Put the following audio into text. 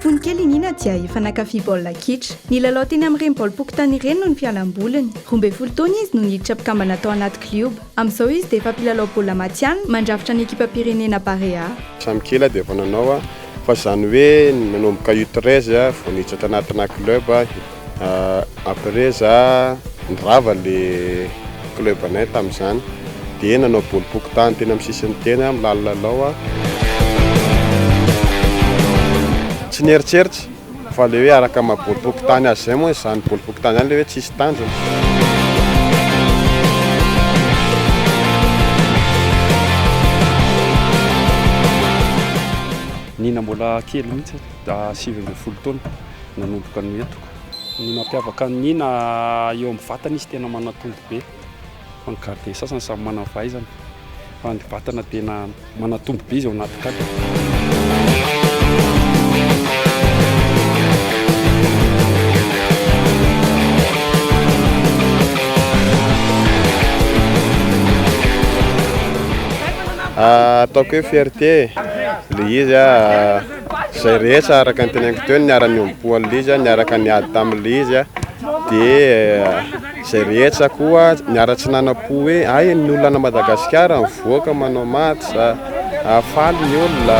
Fony kely i Nina dia efa nankafy baolina kitra. Nilalao teny amin'ireny baolim-pokontany ireny no ny fialam-boliny. Roa ambin'ny folo taona izy no niditra mpikambana tao anaty klioba. Amin'izao izy dia efa mpilalao baolina matihanina mandrafitra ny ekipam-pirenena Barea. Samy kely aho dia efa nanao fa izany hoe nanomboka U treize vao niditra tanatina club. Après za nirava le club anay tamin'izany dia nanao bol pokontany teny amin'ny sisiny teny aho milalilalao aho. Tsy nieritreritra fa le hoe araka maha bol pokontany azy izay moa izany bol pokontany izany le hoe tsisy tanjona. Nina mbola kely mihitsy, sivy ambin'ny folo taona. nanomboka ny entiko. Ny mampiavaka an'i Nina, eo amin'ny vatana izy tena manatombo be, fa ny gardien sasany samy manana ny fahaizany, fa ny vatana tena manatombo be izy ao anaty cadre. Ataoko hoe fierté le izy. Izay rehetra araka ny teneniko teo niara-niombo-po an'ilay izy, niaraka niady tamin'ilay izy, dia eh, izay rehetra koa niara-tsy nanam-po hoe ay ny olona Madagasikara mivoaka manao match, ah, faly ny olona.